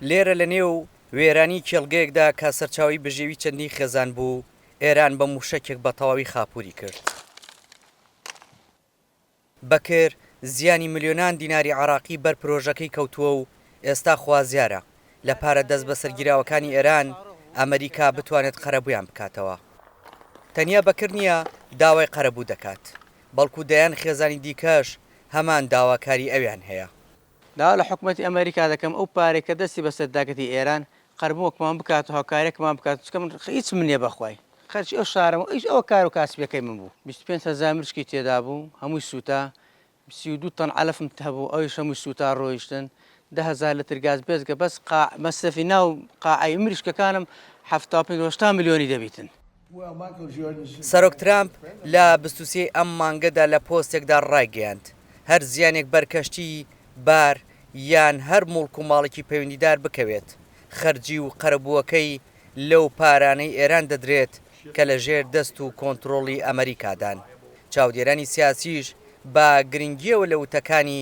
لێرە لە نێو وێرانی کێڵگەیەکدا کە سەرچاوەی بژێوی چەندین خێزان بوو، ئێران بە مووشەکێک بە تەواوی خاپووری کرد. بەکر زیانی ملیۆنان دیناری عێراقی بەر پرۆژەکەی کەوتووە و ئێستا خوازیارە لە پارە دەستبەسەرگیراوەکانی ئێران، ئەمریکا بتوانێت قەرەبوویان بکاتەوە. تەنیا بەکر نییە داوای قەرەبوو دەکات، بەڵکو دەیان خێزانی دیکەش هەمان داواکاری ئەویان هەیە. داوا لە حکومەتی ئەمەریکا دەکەم ئەو پارەی کە دەستی بەسەر داگرتی ئێران قەرمووەکمان بکات و هاوکاریەکمان بکات چونکە من هیچم نیە بەخوای خەرجی ئەو شارەم و ئیش ئەوە کارو کاسبیەکەی من بوو بیست و پێنج هەزار مشکی تێدا بوو هەمووی سووتا سی و دوو تەن عەلەفم هەبوو ئەویش هەمووی سووتا ڕۆیشتن دە هەزار لتر گاز بێجگە بەس قاع مەسرەفی ناو قاعەی مریشکەکانم حەفتا و پێنج هەشتا ملیۆنی دەبیتن. سەرۆک ترامپ لە بیست و سێ ی ئەم مانگەدا لە پۆستێکدا ڕایگەیاند، هەر زیانێک بەر کەشتی، بار، یان هەر موڵک و ماڵێکی پەیوەندیدار بکەوێت، خەرجی و قەرەبووەکەی لەو پارانەی ئێران دەدرێت کە لە ژێر دەست و کۆنترۆڵی ئەمەریکادان. چاودێرانی سیاسیش بە گرنگییەوە لە وتەکانی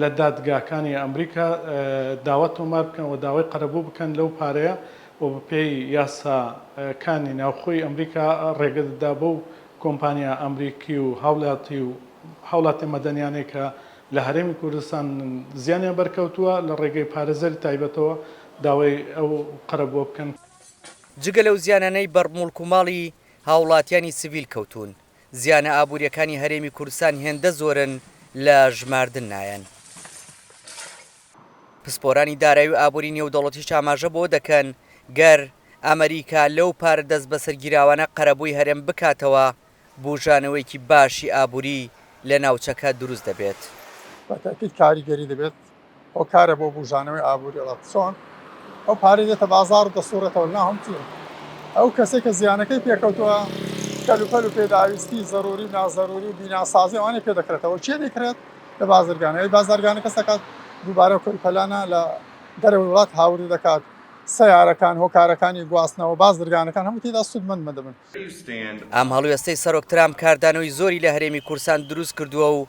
لە دادگاکانی ئەمریکا داوا تۆمار بکەن و داوای قەرەبوو بکەن لەو پارەیە و بەپێی یاسا کانی ناوخۆی ئەمریکا ڕێگە دەدا بەو کۆمپانیا ئەمریکی و هاولاتی و هاوڵاتیە مەدەنیانەی کە لە هەرێمی کوردستان زیانیان بەرکەوتووە لە ڕێگەی پارێزەری تایبەتەوە داوای ئەو قەرەبووە بکەن. جگە لەو زیانانەی بەر موڵک و ماڵی هاوڵاتیانی سڤیل کەوتوون، زیانە ئابوورییەکانی هەرێمی کوردستان هێندە زۆرن لە ژماردن نایەن. پسپۆرانی دارایی و ئابووری نێودەوڵەتیش ئاماژە بەوە دەکەن، گەر ئەمەریکا لەو پارە دەستبەسەرگیراوانە قەرەبووی هەرێم بکاتەوە، بووژانەوەیەکی باشی ئابووری لە ناوچەکە دروست دەبێت. بە تاکید کاریگەری دەبێت هۆکارە بۆ بوژانەوەی ئابوری ڵە چۆن ئەو پارەی دێتە بازار و دەسوڕێتەوە ناوم چیە ئەو کەسێک کە زیانەکەی پێکەوتووە کەلوپەل و پێداویستی زەروری و نازەروری و بیناسازی ئەوانەی پێ دەکرێتەوە چێ دەکرێت لە بازرگانەوەی بازرگانە کەس دەکات دووبارە کەلوپەلانە لە دەرەوەی وڵات هاوردە دەکات سیارەکان هۆکارەکانی گواستنەوە بازرگانەکان هەموو تێدا سوودمەند مەدەبن. ئەم هەڵوێستەی سەرۆک ترامپ کاردانەوەی زۆری لە هەرێمی کورسان دروست کردووە و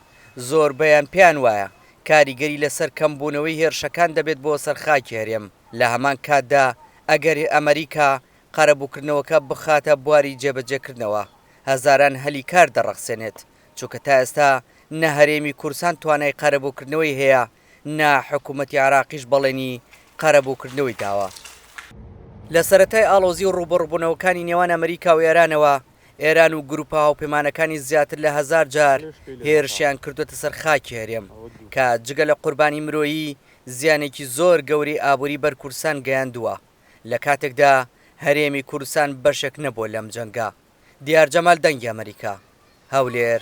زۆربەیان پێیان وایە کاریگەری لەسەر کەمبوونەوەی هێرشەکان دەبێت بۆ سەر خاکی هەرێم، لە هەمان کاتدا ئەگەر ئەمەریکا قەرەبووکردنەوەکە بخاتە بواری جێبەجێکردنەوە، هەزاران هەلی کار دەڕەخسێنێت، چونکە تا ئێستا نە هەرێمی کورسان توانای قەرەبووکردنەوەی هەیە، نە حکوومەتی عێراقیش بەڵێنی قەرەبووکردنەوەی داوە. لە سەرەتای ئاڵۆزی و ڕووبەڕووبوونەوەکانی نێوان ئەمەریکا و ئێرانەوە، ئێران و گرووپە هاوپەیمانەکانی زیاتر لە هەزار جار هێرشیان کردووەتە سەر خاکی هەرێم، کە جگە لە قوربانی مرۆیی، زیانێکی زۆر گەورەی ئابووری بەر کوردستان گەیاندووە، لە کاتێکدا هەرێمی کوردستان بەشێک نەبووە لەم جەنگە. دیار جەمال دەنگی ئەمەریکا، هەولێر.